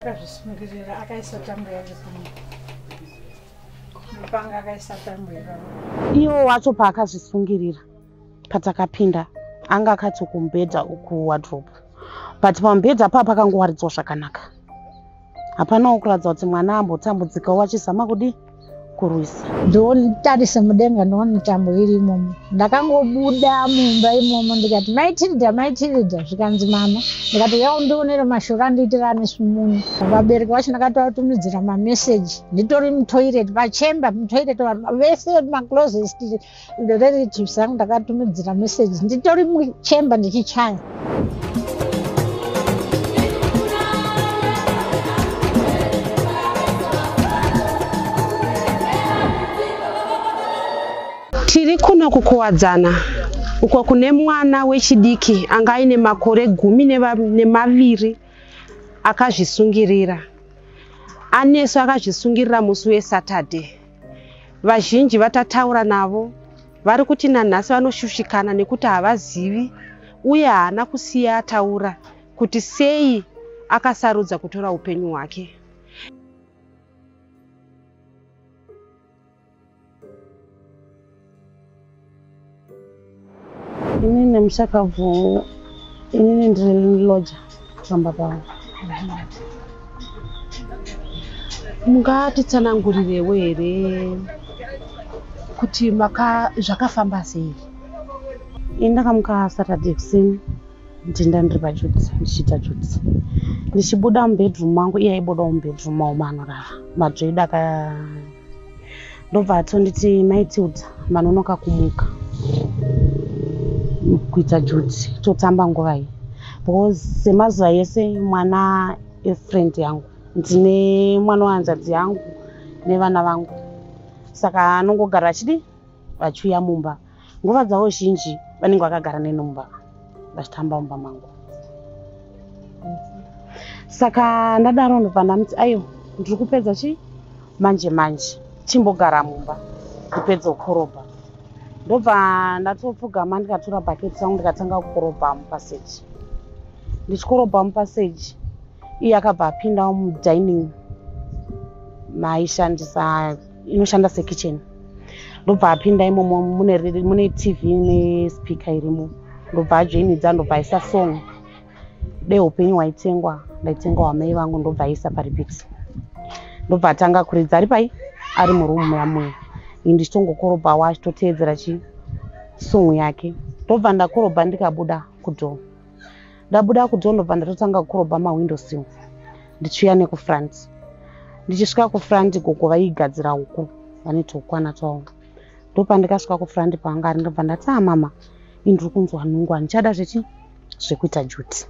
akazvisungirira akaisa tambo yake pano mupanga akaisa tambo ipaa iwo wacho paakazvisungirira patakapinda anga akati kumbhedha uku wadrop but pamubhedha paa pakangowaridzwa zvakanaka hapanawo kuratidza kuti mwana ambotambudzikawo achizama kudii kurwisa ndonitarise mudenga ndoona mitambo iri imomo ndakangobuda mumba imomo ndikati mai tilda mai tilda zvikanzi mama ndikati uya undionere mashoko andiitirane sumuni vabereki vacho ndakatoatumidzira mameseji nditori mutoireti pachemba mutoireti vese maclosest Nderelatives angu ndakatumidzira message nditori muchamber ndichichaya. Tiri kuno kukuwadzana uko kune mwana wechidiki anga aine makore gumi nemaviri akazvisungirira. Anesu akazvisungirira musi weSaturday. Vazhinji vatataura navo vari kuti nanhasi vanoshushikana nekuti havazivi uye haana kusiya ataura kuti sei akasarudza kutora upenyu hwake. Inini mushakabvu inini ndiri loja pamba pavo. Mungatitsanangurirewo here kuti maka zvakafamba sei? Ini ndakamuka Saturday kuseni ndinda ndiri pajudzi ndichiita judzi ndichibuda mubedroom mangu iye aibudawo mubedroom mau maanorara madzvoida ka ndobva atonditi mai tilda vanonoka kumuka kuita juti totamba nguva iyi because semazuva yese mwana efriend yangu ndine mwana wehanzvadzi yangu nevana vangu saka anongogara achidii vachiuya mumba nguva dzavo zhinji vanenge vakagara neni mumba vachitamba mumba mangu saka ndadaro ndobva ndamuti ayo ndiri kupedza chii manje manje chimbogara mumba ndipedze kukorobha ndobva ndatopfugama ndikatora bhaketi rangu ndikatanga kukorobha mupaseji ndichikorobha mupaseji iye akabva apindawo mudining maishandisa inoshanda sekitchen ndobva apinda imomo mune, mune tv nespeaker irimo ndobva ajoinidza ndobva aisa song deupenyu waitengwa ndaitengwa wamai vangu ndobva aisa paripit ndobva atanga kuridza ari pai ari murumu yamuya ini ndichitongokorobha wa achitoteedzera chi song yake ndobva ndakorobha ndikabuda kudhoo Ndabuda kudhorobha ndatotanga kurobha mahwindo sill ndichiuya nekufront. Ndichisvika kufront gogo vaigadzira uku vane twokwana twavo. Ndopandikasvika kufront panga ari ndobva ndati ah mama ini ndiri kunzwa nhungu handichada zvechi zvekuita juti.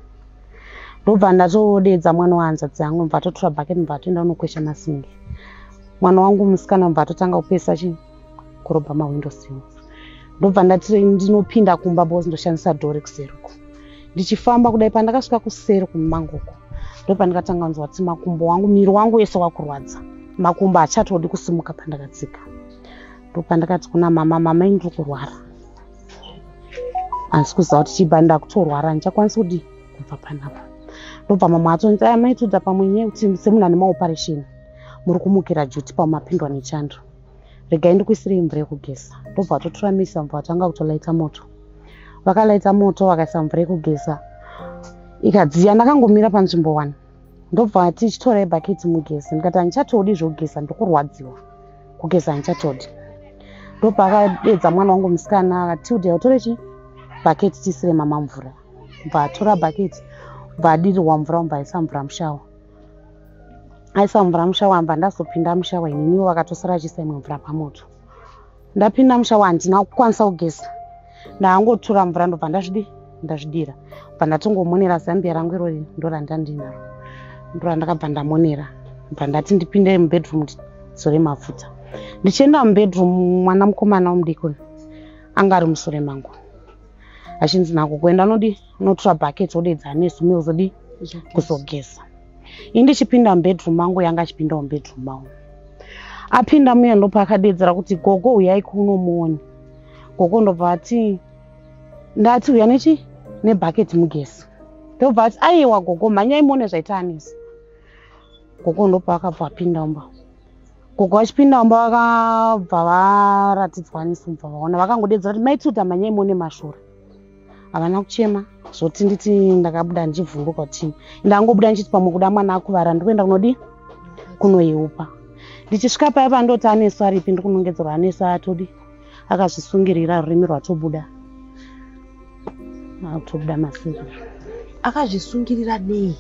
Ndobva ndatodeedza mwana wahanzvadzi yangu ndobva atotora bucket ndobva atoenda kunokwesha masingi. Mwana wangu musikana ndobva atotanga kupesa chii kurobha mahwindo simu ndobva ndati ndinopinda kumba bos ndoshandisa dho rekuseri uko ndichifamba kudai pandakasvika kuseri kumumango uko ndopandikatanga kunzwa kuti makumbo wangu miri wangu wese wakurwadza makumbo achatodi kusimuka pandakatsika ndopandakati kuna mama mama ini ndiri kurwara handisi kuziva kuti chiba ndakutorwara handichakwanisi kudi kubva panapa ndobva mamwe atonzi aya maitoda pamwe nyaya kuti semunhu ane maoperation muri kumukira juti pamapindwa nechando regai ndikuisirei mvura yekugeza ndobva atotora misi vambo vatanga kutolaita moto vakalaita moto vakaisa mvura yekugeza ikadziya ndakangomira panzvimbo one ndobva ati chitorai bhaketi mugezi ndikati handichatodi zvekugeza ndokurwadziwa kugeza handichatodi ndobva akadedza mwana wangu musikana akati udia utore chi bhaketi tiisire mama mvura bva atora bhaketi bva adirirwa mvura mubva aisa mvura mushawa aisa mvura musha wamba ndazopinda musha waininiwo vakatosara achiisa imwe mvura pamoto ndapinda musha wandina kukwanisa kugeza ndaangotura mvura ndobva ndazvidi ndazvidira bva ndatongomonera zambia rangu irori ndorandandinaro ndorandakabva ndamonera bva ndati ndipinde mubedroom ndizore mafuta ndichienda mubedroom mwana mukomana womudikoni anga ari musure mangu achinzi nako kuenda anodii unotora bucket odeedza anesu mi ozodii kuzogeza ini ndichipinda mubedroom mangu yanga achipindawo mubedroom mangu apinda muya ndopaakadeedzera kuti gogo uyai kuno muone gogo ndobva ati ndati uya nechi nebucket mugezi ndobva ati aiwa gogo mhanyai muone zvaita anesi gogo ndopaakabva apinda mba gogo vachipinda mumba vakabva varatidzwa nisi kubva vaona vakangodedzera kuti maituta manyai mone mashura havana kuchema zvoti nditi ndakabuda ndichivhunduka kuti ndangobuda ndichiti pamwe kuda mwana akuvara ndikuenda kunodii kunoiupa ndichisvika paya pandoti anesu aripi ndikunongedzerwa anesu atodi akazvisungirira rurimi rwatobuda rwatobuda masinga akazvisungirira nei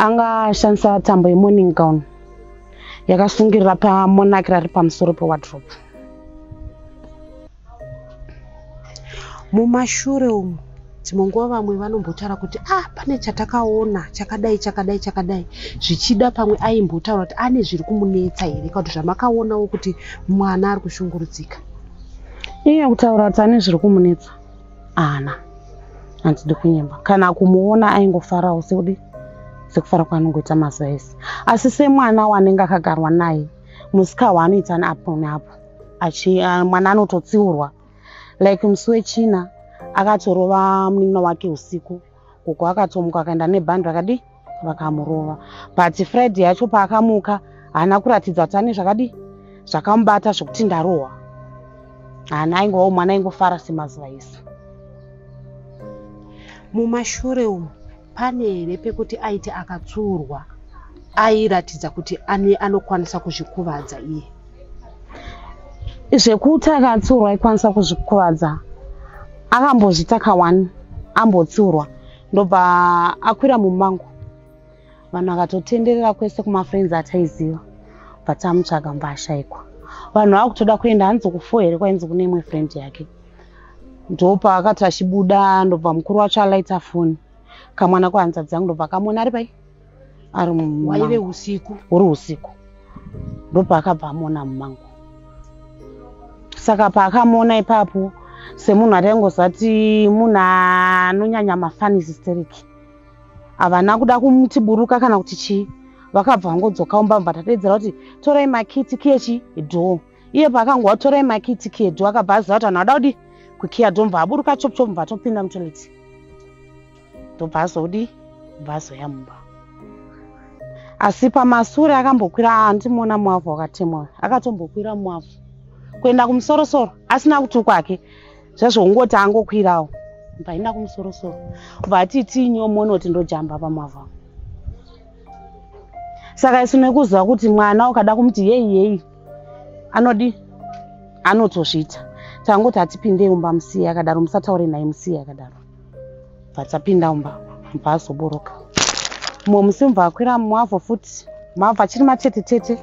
anga ashandisa tambo yemorning gown yakasungirira pamonaki rari pamusoro pewadrop mumashure umu dzimwe nguva vamwe vanombotaura kuti ah pane chatakaona chakadai chakadai chakadai zvichida pamwe aimbotaura kuti ane zviri kumunetsa here ka kuti zvamakaonawo kuti mwana ari kushungurudzika iye kutaura kuti ane zviri kumunetsa ana handidi kunyemba kana kumuona aingofarawo sekuti sekufara kwaanongoita mazuva ese asi semwana wanenge akagarwa naye musika waanoita neapo neapo mwana anototsiurwa like musi wechina akatorova munin'ina wake usiku gogo akatomuka akaenda nebhandi vakadii vakamurova but friday yacho paakamuka haana kuratidza kuti ane zvakadii zvakamubata zvekuti ndarohwa haana aingovawo mwana aingofara semazuva ese mumashure umu pane here pekuti aiti akatsvuurwa airatidza kuti ani anokwanisa kuzvikuvadza iye zvekuti akatsiurwa aikwanisa kuzvikuvadza akambozvita kawani ambotsiurwa ndobva akwira mumango vanhu vakatotenderera kwese kumafriends ataiziva but amutsvaga mbashaikwa vanhu vakutoda kuenda hanzi kufo here kwainzi kune imwe friend yake ndopaakati achibuda ndobva mukuru wacho alaita foni kamwana kuhanzadzi yangu ndobva akamona ari pai ari waive usiku uri usiku ndopaakabva amona mumangu saka paakamona ipapo semunhu ataingozati munhu anonyanya mafanisi steriki havana kuda kumutiburuka kana kuti chii vakabva vangodzoka umba mva tatedzera kuti torai makiti kechi dhoo iye paakanga watora emakiti kedu akabva aziva kuti anhu ada kudii kukiya domva aburuka chop chop mva atopinda mutoilet ndobva azodi bva azoya mumba asi pamasure akambokwira andimuona mwavhu wakatemwa akatombokwira mwavhu kuenda kumusorosoro asina kuti kwake zvazvongoti angokwirawo mva aenda kumusorosoro bva ati tii nyomono kuti ndojamba pamwavhu saka isu nekuziva kuti mwana ukada kumuti yeyi yeyi anodii anotozviita tangoti hatipinde umba musiye akadaro musataure naye musiye akadaro vatapinda umba mubva azoboroka mumwe musi mubva akwira mumwavo futi mabva achiri matete tete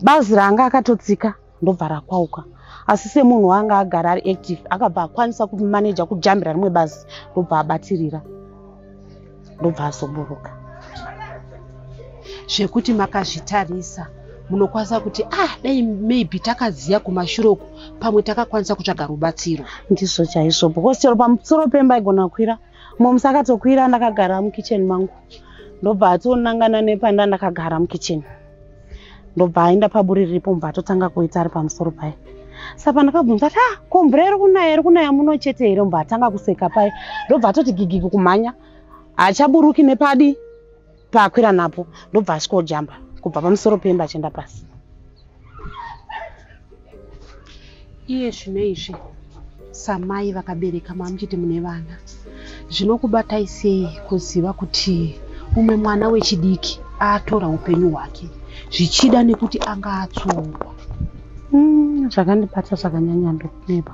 bazi raanga akatotsika ndobva rakwauka asi semunhu waanga agara ari active akabva akwanisa kumaneja kujambira rimwe bazi ndobva abatirira ndobva azoburuka zvekuti makazvitarisa munokwanisa kuti ah dai maybe takaziva kumashure uku pamwe takakwanisa kutsvaga rubatsiro ndizvo chaizvo because chero pamusoro pemba igona kwira moms akatokwira ndakagara mukitchen mangu ndobva atonangana nepanda ndakagara mukitchen ndobva aenda paburi riripo mubva atotanga kuita ari pamusoro paye sa pandakabvunza ati ah ko mvura iri kunaya iri kunaya muno chete here mubva atanga kuseka paye ndobva atoti gigigi kumhanya hachaburuki nepadi paakwira napo ndobva asvikojamba kubva pamusoro pemba achienda pasi Iye zvino izvi samai vakabereka mamuchiti mune vana zvinokubatai sei kuziva kuti umwe mwana wechidiki atora upenyu hwake zvichida nekuti anga atsongwa hmm, zvakandibata zvakanyanya ndokuneba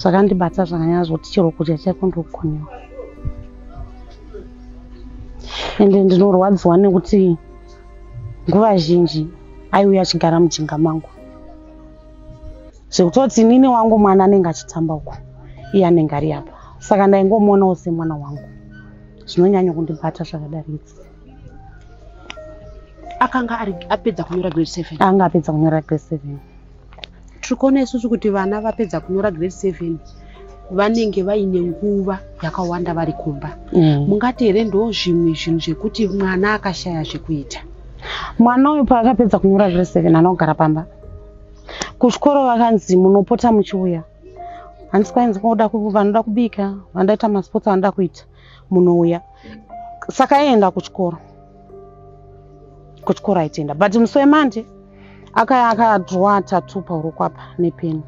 zvakandibata zvakanyanya zvoti chero kudya chaiko ndokukonewa ende ndinorwadziwa nekuti nguva zhinji aiuya achigara mujinga mangu zvekutoti nini wangu mwana anenge achitamba uko iye anenge ari apa saka ndaingomuonawo semwana wangu zvinonyanya kundibata zvakadaridzi akanga apedza kunyora grade seven anga apedza kunyora grade seven tiri kuona isusu kuti vana vapedza kunyora grade seven vanenge vaine nguva yakawanda vari kumba mm. mungati here ndo zvimwe zvinhu zvekuti mwana akashaya zvekuita mwana uyu paakapedza kunyora zviri seven anogara pamba kuchikoro vakanzi munopota muchiuya hanzi kwainzi koda vanoda kubika vandaita masports vanoda kuita munouya saka aienda kuchikoro kuchikoro aitenda but musi wemande akaya akadrowa tatu pauro kwapa nepeni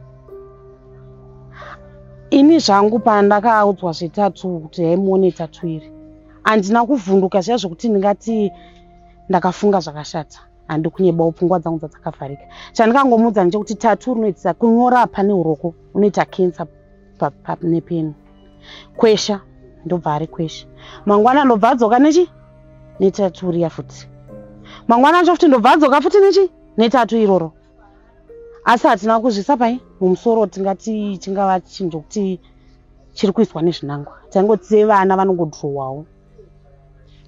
ini zvangu pandakaudzwa zvetatu kuti haimuone tatu iri handina kuvhunduka zviya zvekuti ndingati ndakafunga zvakashata handi kunyebawo pfungwa dzangu dzadzakavharika chandikangomuudza ndechekuti tatu rinoitisa kunyora pane uroko unoita cancer nepeni kwesha ndobva ari kwesha mangwana ndobva adzoka nechi netatu riya futi mangwana acho futi ndobva adzoka futi nechi netatu iroro asi hatina kuzvisa pai mumusoro tingati chingava chinhu chokuti chiri kuiswa nezvinangwa taingoti sevana vanongodhurowawo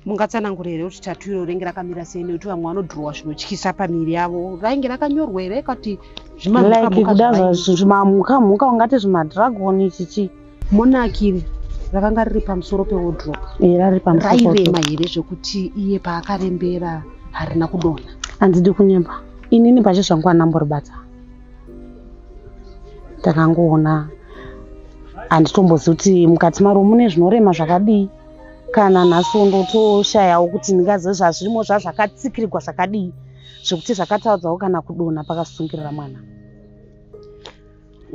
mungatsanangura here kuti tatu iro renge rakamira sei nekuti vamwe vanodhurowa zvinotyisa pamiri yavo rainge rakanyorwa here kuti zvimamhukamhuka ungati zvimadragon chichi monakiri rakanga riri pamusoro pewodrop rairema here zvekuti iye paakarembera harina kudona handidi kunyemba inini pache zvangu anamboribata ndakangoona handitombozivi kuti mukati maro mune zvinorema zvakadii kana nhasi ndotoshayawo kuti ndingazive zvazvirimo zvazvakatsikirigwa zvakadii zvekuti zvakataudzawo kana kudonha pakasungirira mwana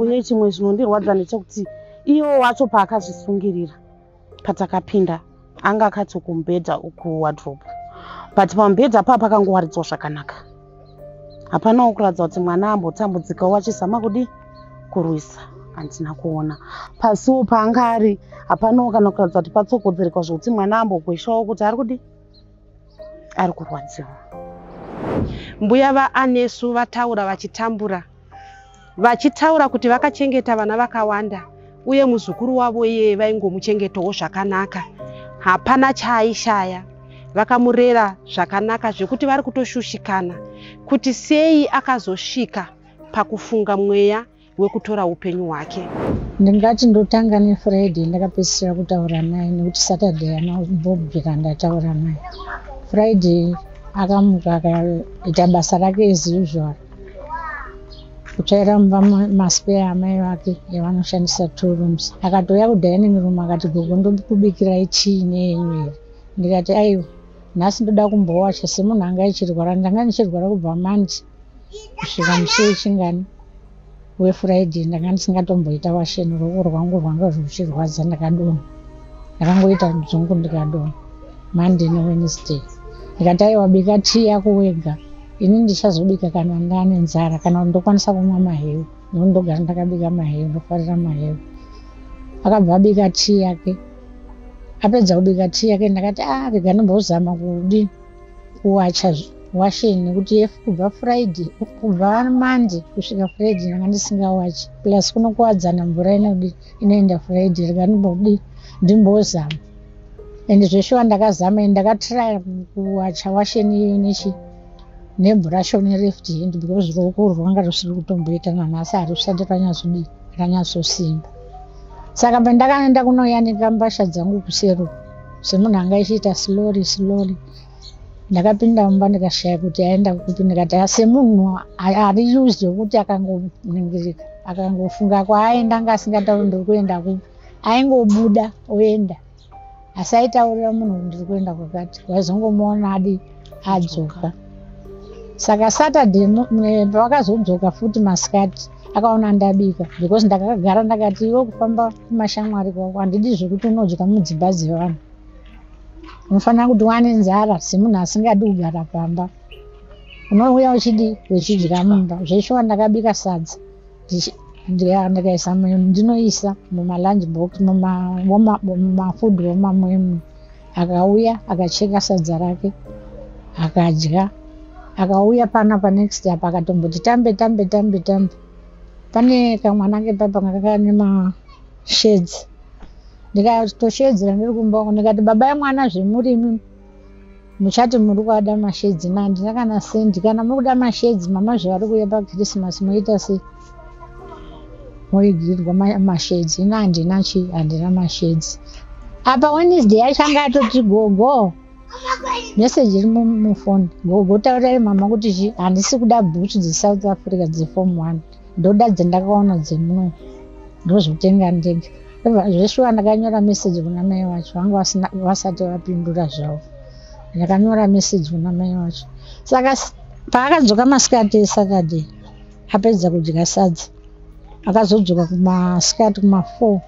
uye chimwe chinondirwadza ndechekuti iwo wacho paakazvisungirira patakapinda anga akati kumbedha uku wadrope but pamubhedha paa pakangowaridzwa zvakanaka hapana wokuratidza kuti mwana ambotambudzikawo wachizama kudii kurwisa handina kuona pasiwo paanga ari hapanawo kana kuratidza kuti patsogodzereka zvokuti mwana ambogweshawo kuti ari kudii ari kurwadziwa mbuya vaanesu vataura vachitambura vachitaura kuti vakachengeta vana vakawanda uye muzukuru wavo iye vaingomuchengetawo zvakanaka hapana chaaishaya vakamurera zvakanaka zvekuti vari kutoshushikana kuti sei akazosvika pakufunga mweya wekutora upenyu hwake ndingati ndotanga nefriday ndakapedzisira kutaura naye nekuti saturday anobvobvira ndataura naye friday akamuka akaita basa rake as usual kutsvaira mumba maspare amai vake yavanoshandisa two rooms akatouya kudining room akati gogo ndokubikirai chii neyenyu here ndikati aiwa nhasi ndoda kumbowacha semunhu anga ichirwara ndanga ndichirwara kubva mandi kusvika musi wechingani wefriday ndanga ndisingatomboita washeni ruoko rwangu rwanga zvichirwadza ndakadonha ndakangoita dzungu ndikadonha monday newednesday ndikati aiwa bika tii yako wega ini ndichazobika kana ndane nzara kana kuti ndokwanisa kumwa mahewu nekuti ndogara ndakabika mahewu ndofarira mahewu akabva abika tii yake apedza kubika tii yake ndakati a ah, rega ndimbozama kudii kuwacha washe nekuti if kubva friday kubva monday kusvika friday ndanga ndisingawachi plus kunokuwadzana mvura inodi inoenda friday rega ndimbodi ndimbozama and zveshuwa ndakazama and ndakatraya kuwacha washeni iyoyo nechi nebhurashi one left hand because ruoko urwu rwanga rusiri kutomboita nanhasi harusati ranyazodii ranyatsosimba saka pandakaenda kunoyanika mbasha dzangu kusero semunhu anga ichiita slowly slowly ndakapinda mumba ndikashaya kuti aenda kupi ndikati semunhu ari used wekuti akangoningirika akangofunga kwaaenda anga asingatauri ndiri kuenda kupi aingobuda oenda asi aitaurira munhu kuti ndiri kuenda kwakati waizongomuona adi adzoka saka saturday pavakazodzoka futi masikati akaona ndabika because ndakagara ndakati iwe kufamba kumashamwari kwako handidi zvekuti unodya mudzimba dzevanhu unofanira kuti wane nzara semunhu asingadi kugara pamba unouya uchidi wechidya mumba zveshuwa ndakabika sadza ndiya ndakaisa ndinoisa mumalunch box mumafood womamwemwe akauya akacheka sadza rake akadya akauya pana panext apa akatomboti tambe tambe tambe tambe pane kamwana ke papa kakane mashedzi ndikatoshedzera ndiri kumba uko ndikati baba yemwana zvemurimi muchati muri kuada mashedzi ma handina kana sendi kana muri kuda mashedzi mama zvevari kuuya pakrisimasi moita sei moigirirwa mashedzi ino handina chi handina mashedzi apa wednesday yacho anga atoti gogo meseji iri mufoni gogo taurai mama kuti chi handisi kuda bhuchu dzesouth africa dzeform one Ndoda dzendakaona dzemuno ndozvitenga ndega. Zveshuwa ndakanyora message kuna mai wacho vanga vasati vapindura zvavo. Ndakanyora message kuna mai wacho. Saka paakadzoka masikati eSaturday apedza kudya sadza akazodzoka kumasikati kuma4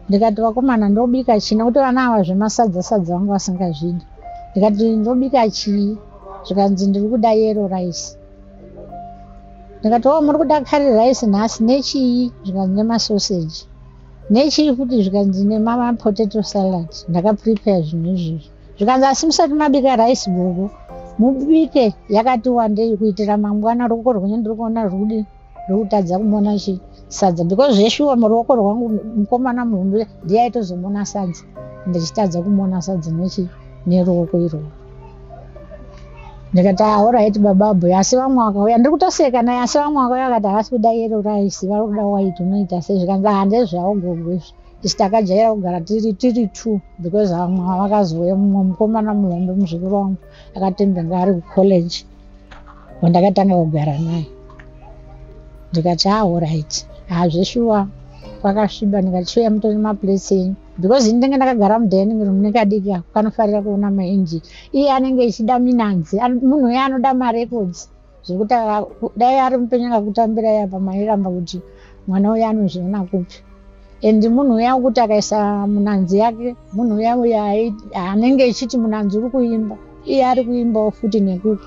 ndikati vakomana ndobika chii nekuti vana ava zvemasadza sadza vanga vasingazvidi ndikati ndobika chii zvikanzi ndiri kuda yero rice ndikati o oh, muri kuda curry rice nhasi nechii zvikanzi nemasoseji nechii futi zvikanzi nemapotato salad ndakaprepare zvinhu izvizvi zvikanzi asi musati mabika rice gogo mubike yakati wandei kuitira mangwana ruoko rwenyu ndiri kuona rwudi ndokutadza kumona chi sadza because zveshuwa muruoko rwangu mukomana muhombe ndiye aitozomona sadza ndichitadza kumona sadza nechi neruoko iroo ndikati ahoraiti ah, baba abhuya asi vamwe vakauya ndiri kutoseka naye asi vamwe vakauya vakati havasi kuda yero raisi vari kuda waiti unoita sei zvikanzi handezvavo gogo izvi isi takajaira kugara tiri tiri two because vamwe vakazouya mumwe mukomana muhombe muzukuru wangu akatembenga ari kucollege wandakatanga kugara naye ndikati aorit ah, hazveshuwa ah, kwakasviba ndikachiuya mutoni maplace enyu because ini ndenge ndakagara mudining room nekadiki ako kanofarira kuona mainji iye anenge echida minanzi munhu uye anoda marecords zvekuti dai ari mupenyu akakutambira yapa mairamba kuti mwana uye anozviona kupi And munhu uya wekuti akaisa munanzi yake, munhu uya uya anenge echiti munanzi uri kuimba, iye ari kuimbawo futi nekuti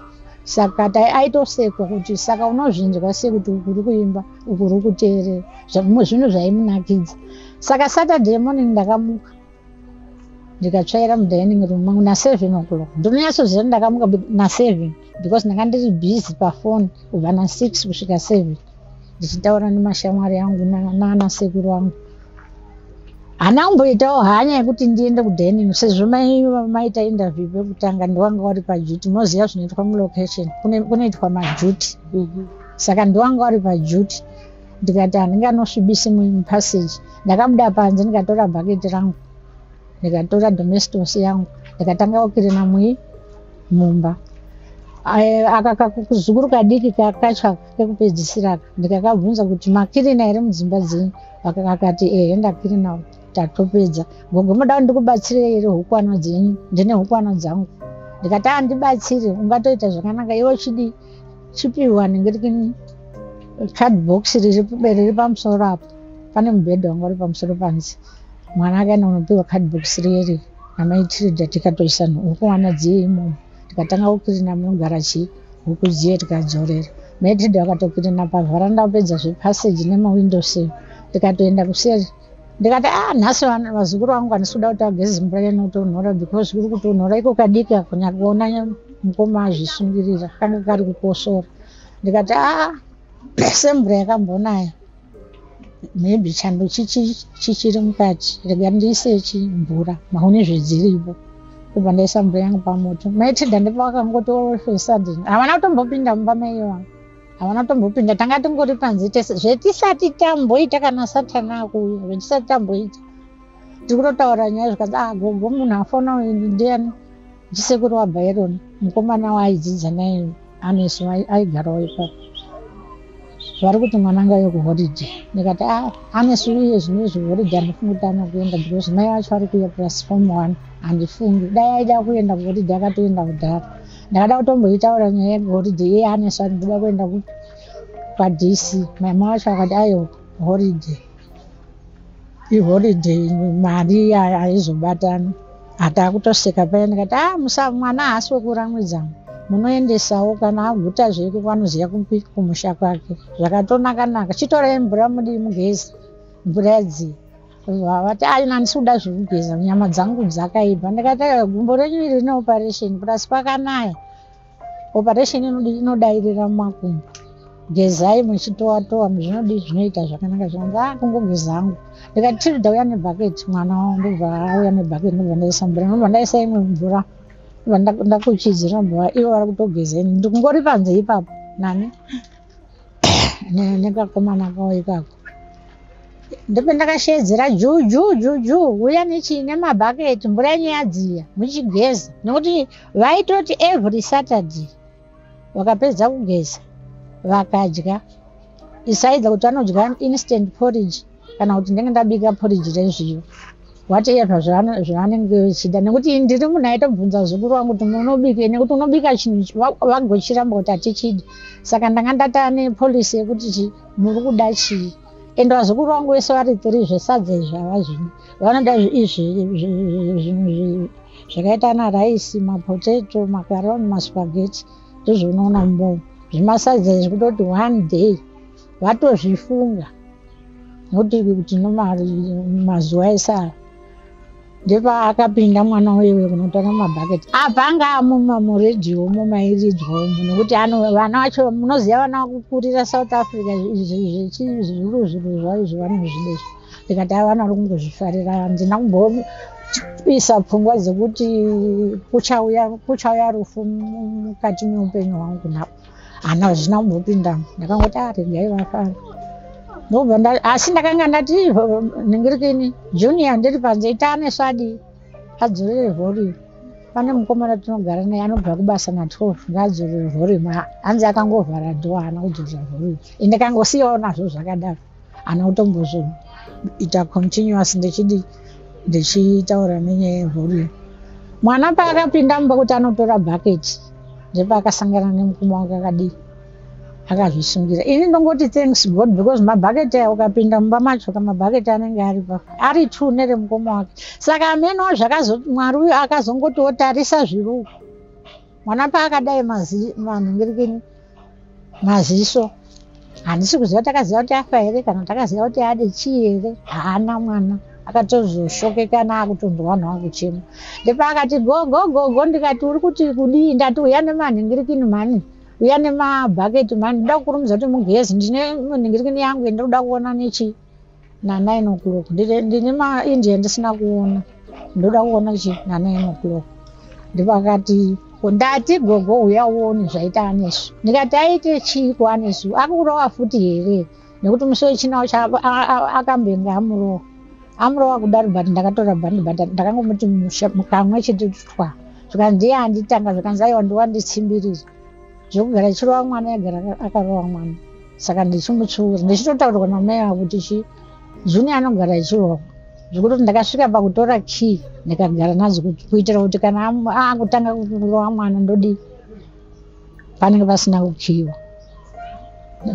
saka aitosekwa kuti saka unozvinzwa sekuti uku uri kuimba uku uri kuteerera zvimwe zvinhu zvaimunakidza saka saturday morning ndakamuka ndikatsvaira mudining room mangu naseven o'clock ndinonyatsoziva ndakamuka naseven because ndanga ndiri busy pafoni kubva nasix kusvika seven ndichitaura nemashamwari angu nanasekuru angu hana kumboitawo hanya yekuti ndiende kudining sezvo maita interview pekutanga ndiwanga wari pajuty moziva zvinoitwa mulocation kunoitwa majuty mhm. saka ndiwanga wari pajuty ndikati handinganosvibisi mupassage ndakabuda panze ndikatora bhaketi rangu ndikatora domestos yangu ndikatanga kukirina mui mumba akakakuzukuru kadiki kakatsva kekupedzisira ka ndikakabvunza kuti makirina here mudzimba dzenyu akati ehe ndakirina tatopedza gogo modawo ndikubatsirei here hukwana dzenyu ndine hukwana dzangu ndikati andibatsire ungatoita zvakanaka iwe chidii chipihwa ndinge tiki card box riri pamusoro apo pane mubhedha wanga uri pamusoro panzi mwana akaenda kunopihwa card box riyeri namaitirida tikatoisa huku wana dziye imomo tikatanga kukirina munogara chii huku dziye tikadzorera maitirida vakatokirina pavharanda apedza zvepassage nemawindows tikatoenda kuseri ndikati a ah, nhasi vazukuru vangu handisi kuda kuti vageze mvura yanotonhora because kuri kutonhora iko kadiki akunyari kuona mukoma azvisungirira kanga kari kukosora ndikati a ah, semvura yakambonaya maybe chando chichiri mukati rega ndiise chimvura mahune zvedziripo kubva ndaisa mvura yangu pamoto maitida ndipavakangotoolfesadden havana kutombopinda mumba maiyo vangu havana kutombopinda tanga tingori panze tese zvetisati tamboita kana satana akuuya zvetisati tamboita tiri kutotaura nyaya zvikanzi ah gogo munhu afona uyu ndiani ndisekuru wabyron mukomana waaidzidza naye anesu aigarawo ipapo vari kuti mwana anga uye kuholiday ndikati a ah, anesu uye zvino izvi holiday andifungi kuti anokuenda because mai vacho vari kuuya plus form one handifungi dai aida kuenda kuholiday akatoenda kudhara ndakada kutomboitaura nyaya yeholiday iye anesu ati ndoda kuenda kwadc maima wacho akati ayo holiday iholiday mari aizobatana atakutoseka paya ndikati a ah, musa mwana haasi wekuramwidzangu munoendesawo kana aguta zveke kwanoziva kupi kumusha kwake zvakatonakanaka chitorai mvura mudii mugezi mvura yadzii vati ayi nani sikuda zvekugeza nyama dzangu dzakaipa ndikati gumbo renyu iri rine operation plus kwakanaya operation inodairira mumakumbo gezai muchitowatowa muzvinodii zvinoita zvakanaka zvinonzi a ah, kungogeza angu ndikati tiri ndauya nebhaketi mwana wavo ndobva auya nebhaketi ndobva ndaisa mvura ndobva ndaisa imwe mvura ndobva ndakuchidzira mvura ivo vari kutogeza ini ndikungori panze ipapo nani nekakomana kawo ikako ndipo ndakasheedzera juu juu juu juu uya nechii nemabhaketi mvura yenyu yadziya muchigeza nokuti vaitoti every saturday vakapedza kugeza vakadya isaidza kuti vanodya instant porridge kana kuti ndenge ndabika poriji rezviyo whatever zvavanenge vechida nekuti ndiri munhu aitobvunza zukuru wangu kuti munobika nekuti unobika chinhu vagochiramba kuti hatichidi saka ndanga ndataa nepolicy yekuti chi muri kuda chii and vazukuru vangu vese vari tiri zvesadza izvi hava zvino vanoda izvi zvinhu zvakaita ana raisi mapotato makaroni maspageti ndozvounoona mumbomo zvimasadza izvi kutoti one day vatozvifunga noti kuti nomari mazuva esara ndepaakapinda mwana wewe kunotanga mabhaketi apa anga amuma muredio umo mairidzwa umo nekuti vana vacho munoziva vana kukurira south africa zvechizuru zviro zvayo zvevanozvidezvo ndikati a vana ri kungozvifarira handina kumboisa pfungwa dzekuti kuchauya rufu mukati meupenyu hwangu napo hana hazvina kumbopindamo ndakangoti aregai ah, vafara ndobva asi ndakanga ndati ndingiri kini junior ndiri panze itane svadi adzorere volume pane mukomana tinogara naye anobva kubasa na 12 ngaadzorere volume hanzi akangovhara dho haana kudzorera volume ende kangosiyawo nazvo zvakadaro hana kutombozviita continuous ndichidi ndichitaura nenyaya yevolume mwana paakapinda mumba kuti anotora bucket ndepaakasangana nemukoma wake akadii akazvisungira ini ndongoti thanks god because mabhaketi aya ukapinda mumba macho ka mabhaketi anenge ari pa ari two neremukoma wake saka amenowo zvakazo mwari uyo akazongotiwo tarisa zviruko mwana paakadai mazi vanhu ngirikini maziso handisi kuziva takaziva kuti afa here kana takaziva kuti ade chii here haana mwana akatozoshokekana akutonzwa vanhu vakuchema ndepaakati gogogogo ndikati uri kuti kudii ndati uya nemanhingirikini mhani uya nemabhaketi mhani ndoda kukurumidza kuti mugezi ndine manhingirikini yangu yendiri kuda kuona nechii nanine o'clock ndine maindia ndisina kuona ndoda kuona chi nanine o'clock ndipakati ndati gogo uya uone zvaita anesu ndikati aite chiiko anesu akurova futi here nekuti musi wechina ucha akambenge amurova amurova kudaro but ndakatora bhandi but ndakangomuti kamwe chete twa zvikanzi ndiye anditanga zvikanzi aiwa ndiwanditsimbirira zvekugara achirova mwana yagara akarova mwana saka ndichimuchiura ndichitotaurirwa namai vangu kuti chi junior anogara achirova zvekutoti ndakasvika pakutora key ndikagara nadzo kuitira kuti kana akutanga kurova mwana ndodii panenge pasina kukiwa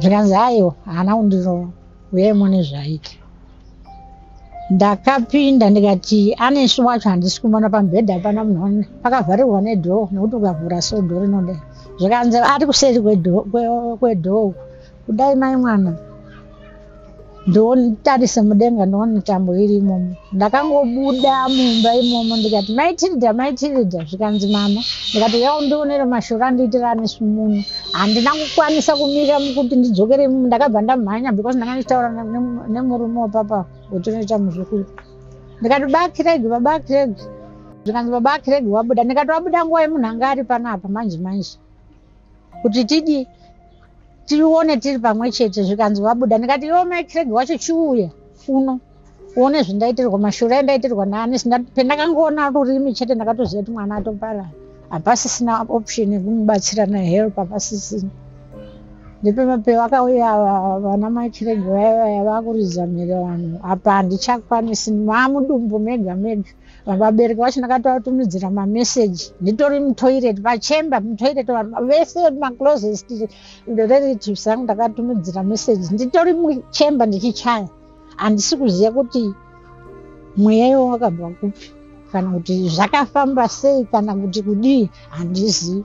zvikanzi aiwa haana kundirova uye mune zvaita ndakapinda ndikati anesu wacho handisi kumona pamubhedha apana munhu pakavharirwa nedhoo nekuti ukavhura so dhoo rinoda zvikanzi ari kuseri kwedhoo uku kudai mai mwana ndionitarise mudenga ndione tambo iri imomo ndakangobuda mumba imomo ndikati maitirida maitirida zvikanzi mama ndikati yao ndionere mashura andiitira anesu muno handina kukwanisa kumira mukuti ndidzokere imomo ndakabva ndamhanya because ndanga ndichitaura nemurume wapapa wetinoita muzukuru ndikati baba kiregi baba kiregi zvikanzi baba kiregi wabuda ndikati wabuda nguva yemunhu anga ari panapa manje manje kuti tidi tione tiri pamwe chete zvikanzi wabuda ndikati iwo mai kiregi wacho chiuya uno uone zvindaitirwa mashura endaitirwa naani sinda pendakangoona rurimi chete ndakatoziva kuti mwana atoparara hapasisina option yekumubatsira nehelp hapasisina ndepemapeyo vakauya vana makirege vaya vaya vakuridza mhere vanhu apa handichakwanisi mamudumbu mega mega vabereki vacho ndakatoatumidzira mameseji nditori mutoiret vachemba mutoiret vanhu vese maclosest reratives angu ndakatumidzira meseji nditori muchemba ndichichaya handisi kuziva kuti mweya iwo wakabva kupi kana kuti zvakafamba sei kana kuti kudii handizivi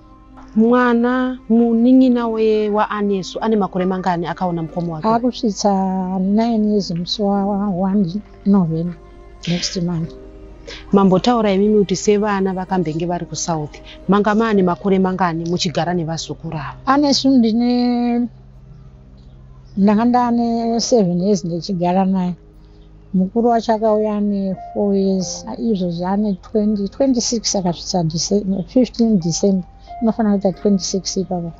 mwana munin'ina waanesu ane makore mangani akaona mukoma wake akusvitsa 9 years musi wa 1 november next month mambotaura imimi kuti sevana vakambenge vari kusouth manga maane makore mangani muchigara nevazukuru ava anesu ndine ndanga ndane seven years ndichigara naye mukuru wacho akauya ane four years izvozvi ane twenty twenty six akasvitsa fifteen december inofanira kuita twenty six ipapa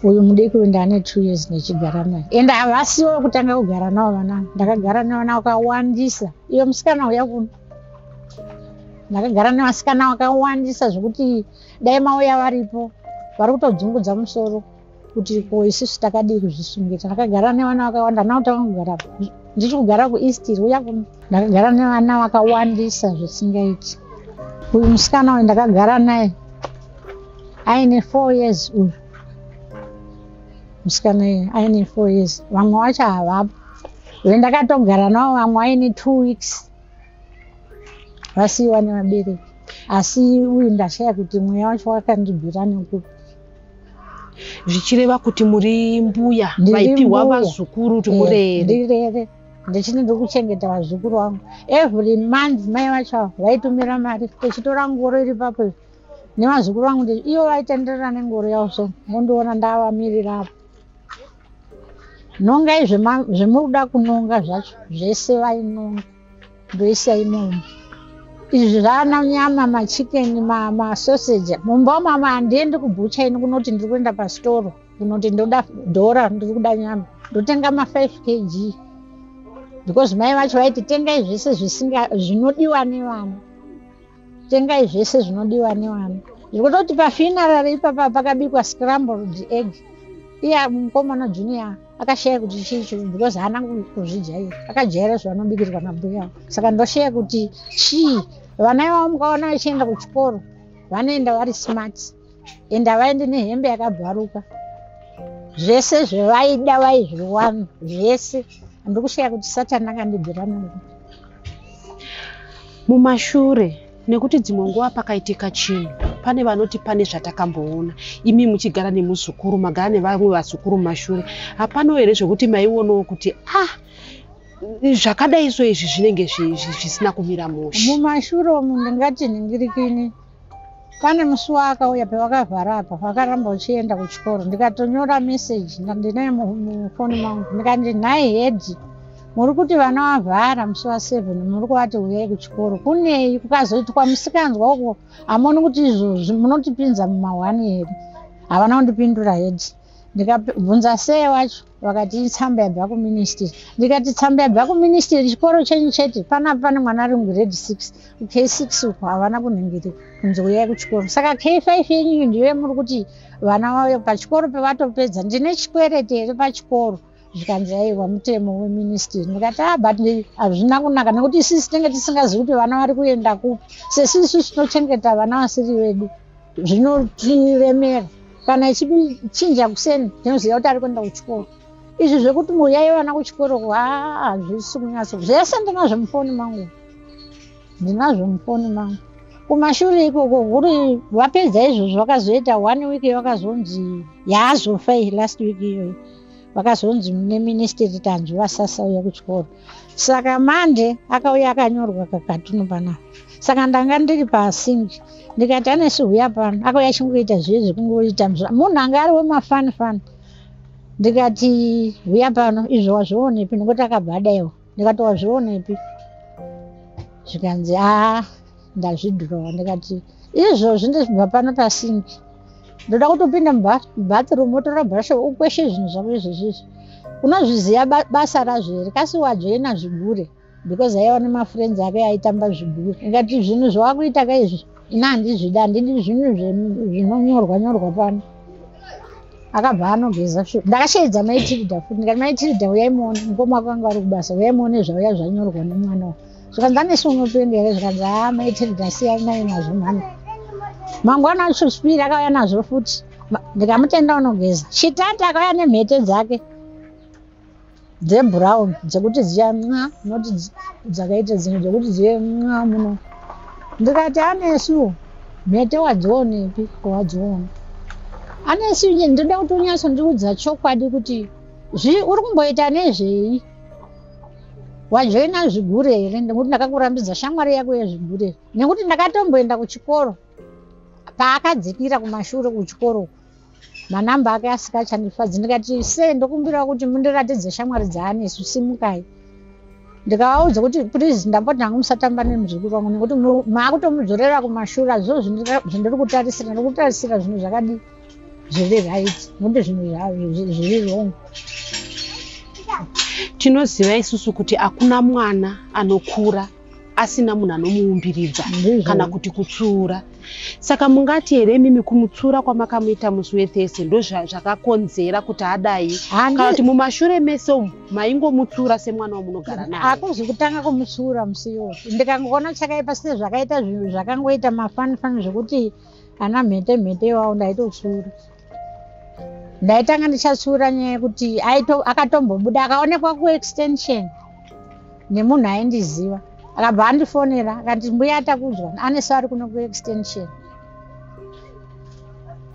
uyu mudiki uyu ndaane two years ndichigara naye and havasiwo kutanga kugara navo vana ndakagara nevana vakawandisa iyo musikana uya kuno ndakagara nevasikana vakawandisa zvekuti dai mauya varipo vari kutodzungudza musoro kuti ko isusu takadii kuzvisungira ndakagara nevana vakawanda navo takangogara ndichi kugara kueast riuya kuno ndakagara nevana vakawandisa zvisingaiti uyu musikana uyu ndakagara naye aine four years uyu musikana uyu aine four years vamwe vacho havapo ve ndakatogara navo vamwe aine two weeks vasiiwa nevabereki asi uyu ndashaya kuti mweya wacho wakandibvira nekupi zvichireva kuti muri mbuya vaipiwa vazukuru kuti murere eh, ndichiti ndiri kuchengeta vazukuru vangu every month mai vacho avo vaitumira mari tichitora ngoro iri papo nevazukuru vangu ivo vaitenderera nengoro yavo so mondiona ndavamirira apo Nongai zvemuda kunonga zvacho zvese vainonga ndoisa imomo. Izvi zvaana nyama machikeni masoseji mumba mama handiendi kubhucha ini kunoti ndiri kuenda pasitoro kunoti ndoda dhora ndiri kuda nyama ndotenga ma5 kg because mai vacho vaiti tengai zvese zvinodiwa nevana tengai zvese zvinodiwa nevana zvekutoti pafinarary ipapa pakabikwa scrambled egg iya mukomana junior akashaya kuti chii chii because haana kuzvijaira akajaira zvavanobikirwa nabhuya avo saka ndoshaya kuti chii vana ivavo mukaona vachienda kuchikoro vanoenda vari smart enda vaende nehembe yakabvaruka zvese zvevaida vaizviwana zvese ndikushaya kuti satani akandidzira mungu mumashure nekuti dzimwe nguva pakaitika chinhu pane vanoti pane zvatakamboona imi muchigara nemuzukuru magara nevamwe vazukuru mumashure hapano here zvekuti maionawo kuti ah zvakadai so izvi zvinenge zvisina kumira mushe mumashure umu ndingati nhingirikini pane musi waakauya pavakavhara apa vakaramba uchienda kuchikoro ndikatonyora message ndinaye mufoni mangu ndikati nhai hedi muri kuti vana vavhara musi waseven muri kuvati huyai kuchikoro kunei kukazoitwa musikanzwa uko hamoni kuti izvozvi munotipinza mumahwani here havana kundipindura hedi ndikabvunza seye wacho vakati tsamba yabva kuministry ndikati tsamba yabva kuministry chikoro chenyu chete panapa pane mwana ari mugrade six k six uko havana kunhingiri kunzi uyai kuchikoro saka k five yenyuyu ndiyo yamuri kuti vana vauye pachikoro pevatopedza ndine chikwerete here pachikoro zvikanzi aiwa mutemo weministry ndikati a ah, but hazvina kunaka nekuti isisi tinenge tisingazivi kuti vana vari kuenda kupi sesisu tinochengeta vana vasiri vedu zvinotiremera kana ichichinja kuseni tinoziva kuti ari kuenda kuchikoro izvi zvekuti muyayi vana kuchikoro hazvisi kunyatso zvese ndinazvo mufoni mangu ndinazvo mufoni mangu kumashure ikoko kuri vapedza izvozvo vakazoita one week vakazonzi yaazofa iyi last week iyoyi vakazonzi neministeti tanzwi vasasauya kuchikoro saka mande akauya akanyorwa kakatunu panapa saka ndanga ndiri pasink ndikati anesu huya pano akauya achingoita zviye zvekungoita munhu anga ari wemafanifani ndikati huya pano izvo wazvionepi nokuti akabva adaiwa ndikati wazvionepi zvikanzi aa ndazvidhirowa ndikati izvozvi ndizvibva pano pasingi ndoda kutopinda mubathroom wotora brushe ukweshe zvinhu zvako izvezvizvi unozviziva basa razvo here kasi wajoina zvigure because aiva nemafriends ake aitamba zvigure ndikati zvinhu zvawakuita ka izvi ini handizvidi handidi zvinhu zvinonyorwa nyorwa pano akabva anogeza shu ndakasheedza maitilda futi ndikati maitilda uyaimuone mukoma wako anga ari kubasa uyaimuone zvauya zvanyorwa nemwana wa zvikanzi anesu unopendi here zvikanzi ha ah, maitilda siyai nai nazvo mhani mangwana acho spiri akauya nazvo futi ndikamutenda unogeza shitati akauya nemhete dzake dzebrown dzekuti dziya nxa not dzakaita dzimwe dzekuti dziye nxa muno ndikati anesu mhete wadzionepi wadziona anesu inye ndinoda kuti unyatsondiudza chokwadi kuti zvii uri kumboita nezvei wajoina zvigure here nekuti ndakakurambidza shamwari yako yezvigure nekuti ndakatomboenda kuchikoro paakadzikira kumashure kuchikoro uku manumber ake asika chandifadzi ndikati se ndokumbirawo kuti mundiratidze shamwari dzaanesu simukai ndikavaudza kuti please ndamboti ndangu musatamba nemuzukuru vangu nekuti maakutomudzorera kumashura zvo zvandiri kutarisira ndikutarisira zvinhu zvakadi zviri right nekuti zvinhu zviri wrong tinoziva isusu kuti hakuna mwana anokura asina munhu anomuumbiridza kana kuti kutsura saka mungati here imimi kumutsura kwamakamuita musi wethese ndo zvakakonzera kuti adai kana kuti mumashure mese umu maingomutsura semwana wamunogara naye akuzi kutanga kumutsura musi iwoyo ndikangoona chakaipa sine zvakaita zvinhu zvakangoita mafanifani zvekuti ana mhete mhete iwawo ndaitotsura ndaitanga ndichasura nyaya yekuti akatombobuda akaonekwa kuextension nemunhu aindiziva akabva andifonera akati mbuya atakudzwa aneso ari kuno kuextension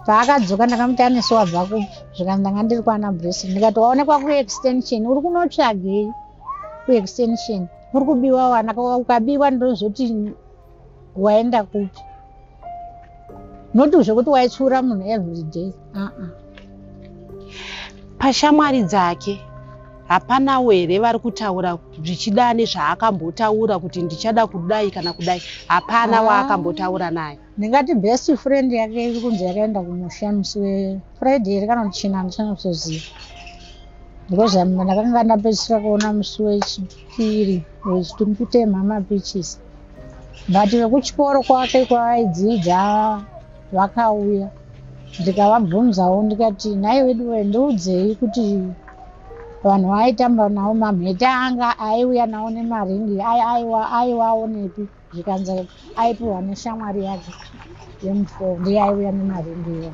paakadzoka ndakamuti aneso wabva kupi zvikanzi ndanga ndiri kwana bresi ndikati waonekwa kuextension uri kunotsvagei kuextension uri kubiwa wana ukabiwa ndozoti waenda kupi not zvekuti waitsiura munhu every day uh -uh. pashamwari dzake hapana were vari kutaura zvichida nezvaakambotaura kuti ndichada kudai kana kudai hapana ah. waakambotaura naye ndingati best friend yake iri kunzi yakaenda kumusha musi wefriday here kana kuti china ndisana kutoziva because ndakanga ndapedzisira kuona musi wechi Shiri wechitumbi kutemha mapichisi but vekuchikoro kwake kwaaidzidza vakauya ndikavabvunzawo ndikati nhai wedu we ndiudzei kuti vanhu vaitamba navo mamhete anga aiuya navo nemaringi aiwaonepi zvikanzi aipiwa neshamwari yake yemufoo ndiye aiuya nemaringiwo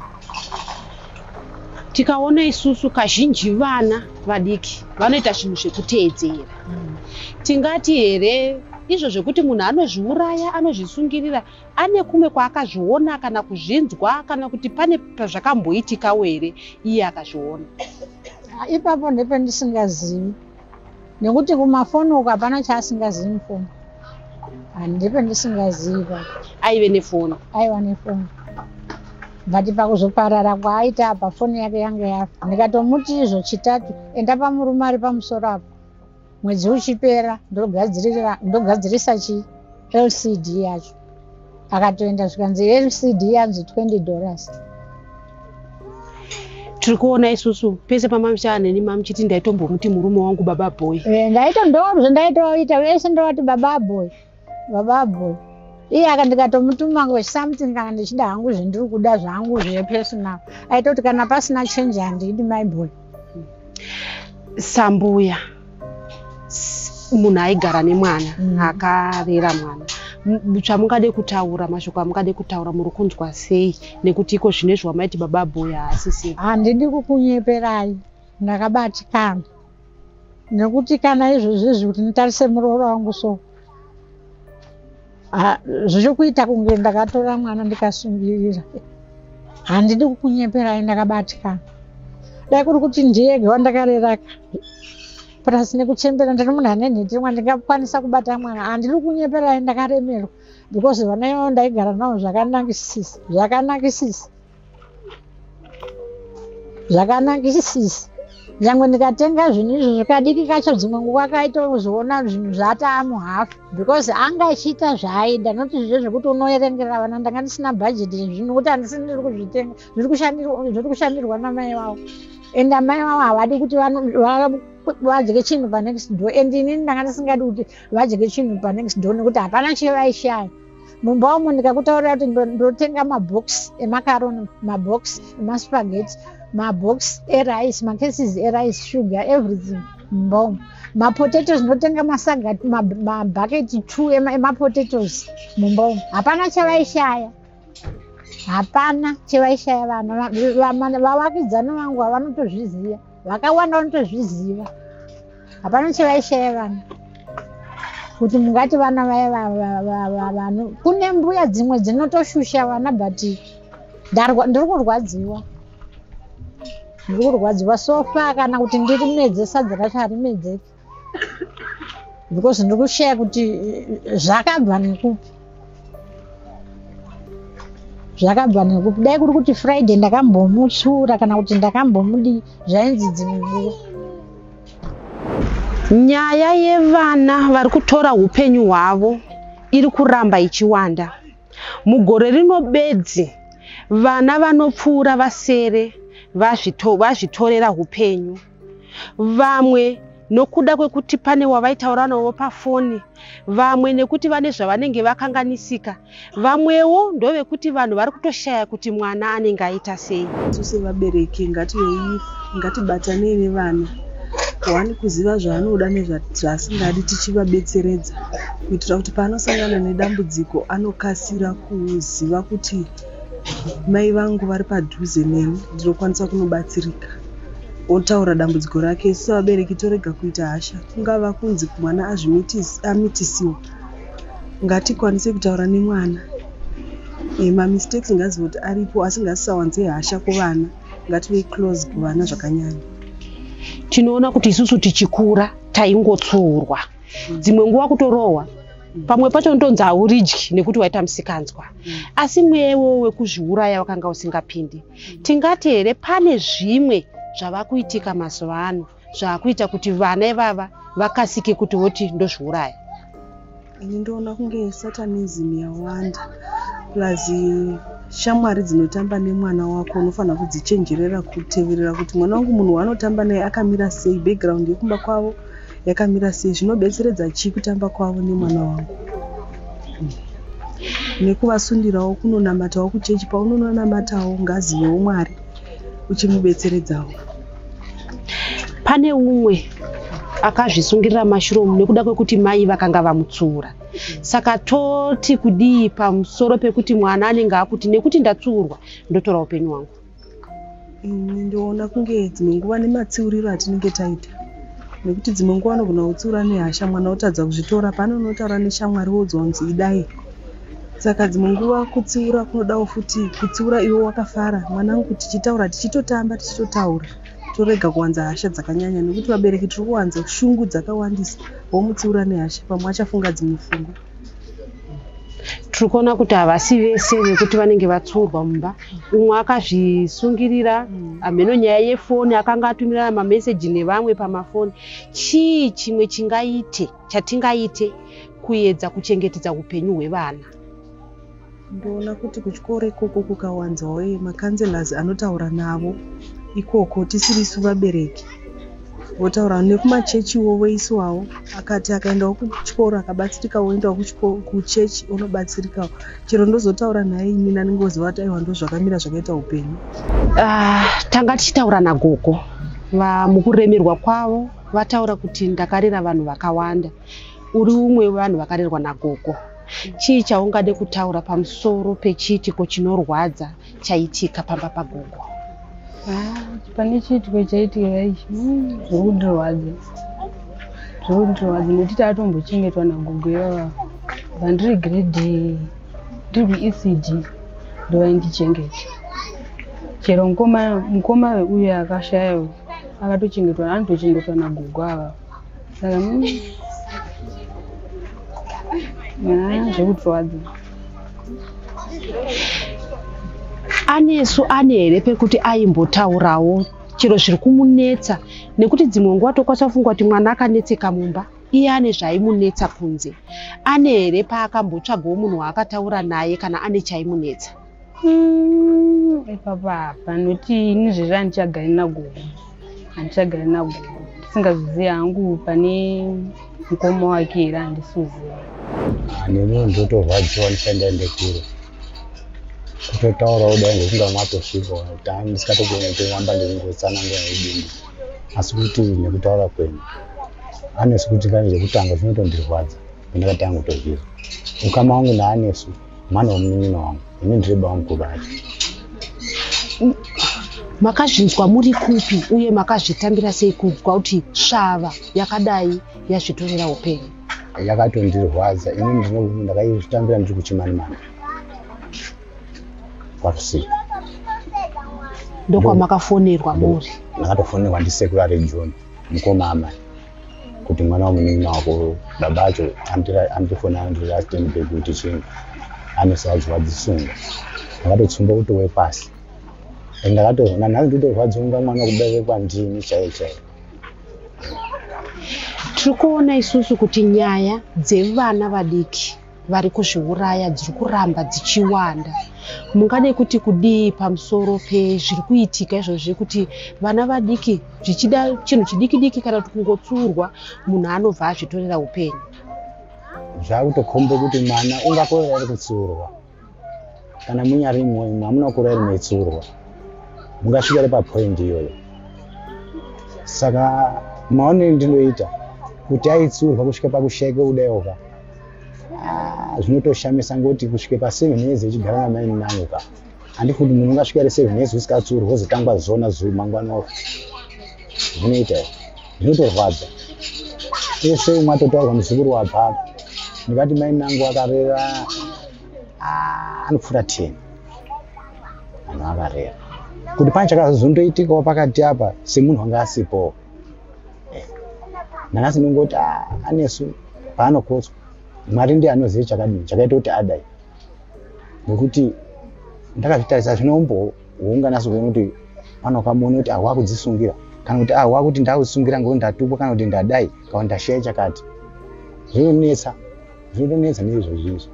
tikaona isusu kazhinji vana vadiki vanoita zvinhu zvekuteedzera mm. tingati here izvo zvekuti munhu anozviuraya anozvisungirira ane kumwe kwaakazviona kana kuzvinzwa kana kuti pane pazvakamboitikawo here iye akazviona ah, ipapo ndependisingazivi nekuti kumafoni uko hapana chaasingazivi mufoni handipe ndisingaziva aive nefoni aiva nefoni but pakuzoparara kwaaita apa foni yake yange yafa ndikatomuti izvo chitatu enda pamurume ari pamusoro apo mwedzi uchipera ndogadzirisa chii lcd yacho akatoenda zvikanzi lcd yanzi 20 dollars tiri kuona isusu pese pamamishana neni mamuchiti ndaitombomuti murume wangu baba boy eh, ndaito ndozvo ndaitoita vese ndovati baba boy baba boy iye aka ndikatomutuma ngo something kana ndichida hangu zvendiri kuda zvangu zvepersonal aitoti kana pasina change handidi my boy sambuya munhu aigara nemwana mm. akarera mwana chamungade kutaura mashoko amungade kutaura muri kunzwa sei nekuti iko zvine zvamaiti baba boya haasisi handidi kukunyeperai ndakabatikana nekuti kana izvozvo izvi kuti nditarise muroora wangu so Ah, zviri kuita kunge ndakatora mwana ndikasungirira handidi kukunyeperai ndakabatikana dai kuri kuti ndiyege wandakareraka plus nekuchembera ndiri munhu ane nhetemwa ndingakwanisa kubata mwana handiri kunyeperai ndakaremerwa because vana ivavo ndaigara navo zvakanakisisa zvakanakisisa zvakanakisisi nyangwe ndikatenga zvinhu izvi zvikadiki kacho dzimwe nguva kaitozoona zvinhu zvataa muhafu because anga achiita zvaaida not zviye zvekuti unoerengera vana ndanga ndisina bhajeti zvinhu kuti handisi ndiri kuzvitenga zviri kushandirwa namai vavo and amai vavo havadi kuti vadye chinhu panext door and inini ndanga ndisingadi kuti vadye chinhu panext door nekuti hapana chevaishaya mumba umu ndikakutaurira kuti ndotenga mabox emacaroni mabox emaspageti mabox erice macases erice sugar everything mumba umu mapotatoes ndotenga masaga mabhaketi two emapotatoes mumba umu hapana chavaishaya hapana chevaishaya vana vavakidzani vangu havanotozviziva vakawanda vanotozviziva hapana chevaishaya vana kuti mungati vana vaya vano kune mbuya dzimwe dzinotoshusha vana but ndiri kurwadziwa ndiri kurwadziwa sofa kana kuti ndirimedze sadza racho harimedzeki because ndiri kushaya kuti zvakabva nekupi zvakabva nekupi dai kuri kuti friday ndakambomutsura kana kuti ndakambomudi zvainzi dzimwe nguva nyaya yevana vari kutora upenyu hwavo iri kuramba ichiwanda mugore rino bedzi vana vanopfuura vasere vazvitorera upenyu vamwe nokuda kwekuti pane wavaitaura navo pafoni vamwe nekuti vane zvavanenge vakanganisika vamwewo ndovekuti vanhu vari kutoshaya kuti mwana anenge aita sei isu sevabereki ngativei ngatibatanei nevana wani kuziva zvaanoda nezvaasingadi tichivabetseredza kuitira kuti paanosangana nedambudziko anokasira kuziva kuti mai vangu vari padhuze neni ndinokwanisa kunobatsirika otaura dambudziko rake sevabereki torega kuita hasha kungava kunzi mwana amitisiwa ngatikwanise kutaura nemwana eh, mamistakes ngaziva kuti aripo asi ngasisawanze hasha kuvana ngative close kuvana zvakanyanya tinoona kuti isusu tichikura taingotsuurwa dzimwe nguva kutorohwa pamwe pacho ndotonzi hauridyi nekuti waita musikanzwa mm. asi mweya iwowo wekuzviuraya wakanga usingapindi tingati here pane zvimwe zvava kuitika mazuva ano zvaakuita kuti vana ivava vakasike kuti voti ndozviuraya ini ndoona kunge satanism yawanda plus shamwari dzinotamba nemwana wako unofanira kudzichenjerera kuteverera kuti mwana wangu munhu waanotamba naye akamira sei background yekumba kwavo yakamira sei zvinobetseredza chii kutamba kwavo nemwana wangu nekuvasundirawo kunonamatawo kuchechi paunononamatawo ngazi yeumwari uchimubetseredzawo pane umwe akazvisungirira mashuromu nekuda kwekuti mai vakanga vamutsiura saka toti kudii pamusoro pekuti mwana anenge akuti nekuti ndatsuurwa ndotora upenyu hwangu mm, ndoona kunge dzimwe nguva nematsiuriro atinenge taita nekuti dzimwe nguva anogona kutsiura nehasha mwana otadza kuzvitora pane unotaura neshamwari wodzwa kunzi idai saka dzimwe nguva kutsiura kunodawo futi kutsiura iwe wakafara mwanangu kuti tichitaura tichitotamba tichitotaura torega kuwanza hasha dzakanyanya nekuti vabereki tiri kuwanza shungu dzakawandisa womutsiura nehasha pamwe achafunga dzimwe fungo tiri kuona kuti havasi vese vekuti vanenge vatsiurwa mumba umwe akazvisungirira mm. hameno nyaya yefoni akanga atumirana mameseji nevamwe pamafoni chii chimwe chingaite chatingaite kuedza kuchengetedza upenyu hwevana ndoona kuti kuchikoro ikoko kukawanzwawo eh, macounselors anotaura navo ikoko tisirisu vabereki votaura nekumachechiwo voiswawo akati akaendawo kuchikoro akabatsirika woendawo kuchechi unobatsirikawo chero ndozotaura naye ini naningozova kuti aiwa ndozvakamira zvakaita upenyu ah, tanga tichitaura nagogo vamukuremerwa kwavo vataura kuti ndakarera vanhu vakawanda uri umwe wevanhu vakarerwa nagogo Chii chaungade kutaura pamusoro pechiitiko chinorwadza chaitika pamba pagogo? Ah, pane chiitiko chaitika ichi hmm, zvokundirwadza zvokundirwadza nekuti taatombochengetwa nagogo ivava vandiri grade ndiri kuecd ndovaindichengeta chero mukoma uyo akashaya akatochengetwa anotochengetwa nagogo avava zvekurwadza anesu ane here pekuti aimbotaurawo chero zviri kumunetsa nekuti dzimwe nguva tokwanisa kufunga kuti mwana akanetseka mumba iye ane zvaimunetsa kunze ane here paakambotsvagawo munhu waakataura naye kana ane chaimunetsa Mm, ipapa panoti ini zvezvi handichagari nagogo handichagari nagogo ndisingazvizivi hangu pane mukoma wake here handisuziva ah, nemi ndotorwadziwa ndisaenda ende kure kutotaura kudai ngokunga matosvika tani ndisikatogona kutoamba ndekungotsanangura nedindi asi kuti nekutaura kwenyu anesu kuti kani zvekutanga zvinotondirwadza pandakatanga kutozvizwa ukama wangu naanesu mwana wemunin'ina wangu ini ndireba wangu kuvati mm, makazvinzwa muri kupi uye makazvitambira sei kunzwa kuti svava yakadai yazvitorera upenyu yakatondirwadza ini ndinokuti ndakaizvitambira ndiri kuchimanimana kwakusika ndokwamakafonerwa muri ndakatofonerwa ndisekuru arejoni mukoma amai kuti mwana wamunin'ina wako baba acho andifonera andirastendbe kuti chinhu anosazwa dzisunga akatotsumba kutowe pasi and akatoona nhasi nditorwadziwa kunga mwana kubereke kwandini chaiye chaiye tiri kuona isusu kuti nyaya dzevana vadiki vari kuzviuraya dziri kuramba dzichiwanda mungade kuti kudii pamusoro pezviri kuitika izvozvo zvekuti vana vadiki zvichida chinhu chidiki diki kana kuti kungotsurwa munhu anobva azvitorera upenyu zvakutokhomba kuti mwana ungakorera ari kutsurwa kana munyari imwe imwe hamuna kura iri metsurwa mungasvika ri papoindi iyoyo saka maonero ndinoita kuti aitsurwa kusvika pakushaika kudaiwoka ah, zvinotoshamisa ngoti kusvika paseven years ichigara namaini nangu ka handiti kuti munhu ungasvika ri seven years usikatsurwa wozotangwa zona zuu mangwana oko zvinoita zvinotorwadza ese umwe atotaurwa muzukuru wabhaka ndikati mainangu akarera ah, anopfuura ten vanhu vakarera kuti pane chakazondoitikawo pakati apa semunhu anga asipowo eh, nhangasi ndingoti ah, anesu paanokotswa mwari ndiye anoziva chakadini chakaita kuti adai nekuti ndakazvitarisa zvino umboungana sokuona kuti pano kamuone kuti ahwa kudzisungira kana kuti ahwa ah, kuti ndakusungira ngekuti ndatukwa kana kuti ndadai kana kuti ndashaya chakati zvinonetsa Zvinonetsa neizvozvi izvi.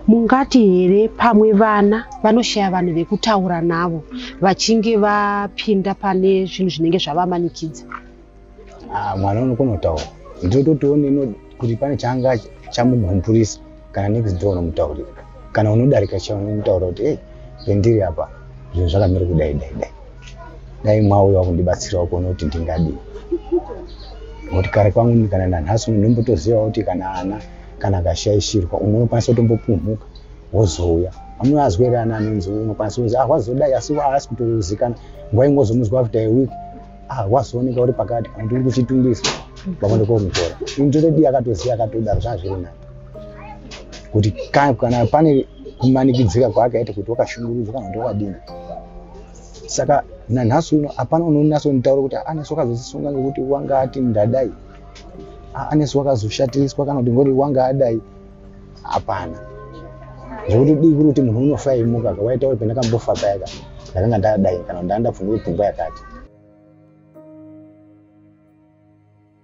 mungati here pamwe vana vanoshaya vanhu vekutaura navo vachinge vapinda pane zvinhu zvinenge zvavamanikidza Ah, mwana unokona kutaura. Ndinototiwo neno kuti pane changa chamugumburisa. kana next door unomutaurira kana unodarika chaiwo unomutaurira kuti hey pendiri apa zvinhu zvakamira kudai dai dai dai mwauya wakundibatsirawo kuona kuti ndingadii nokuti kare kwangu kana nanhasi uno ndombotozivawo kuti kana ana kana akashaishirwa umwe unokwanisa kutombopumhuka wozouya amunoazwa here ana anonzi unokwanisa kunzi ah wazodai asi waasi kutozikana nguva ingozomuzwa after a week ah wazooneka uri pakati kana kuti uri kuchitungisa pakonde komutora ndotodii akatoziva akatodaro zvazviri nani kuti kana pane kumanikidzira kwaakaita kuti wakashungurudzwa kana kuti wakadini saka nanhasi uno hapana unonasa kunditaura kuti anesu wakazozisunga nekuti wanga ati ndadai anesu wakazoshatiriswa kana kuti ngori wanga adai hapana zvekuti dii kuri kuti munhu unofa imuka ka waitaura kuti ndakambofa payaka ndakanga ndadai kana ndandapfungire pfungwa yakati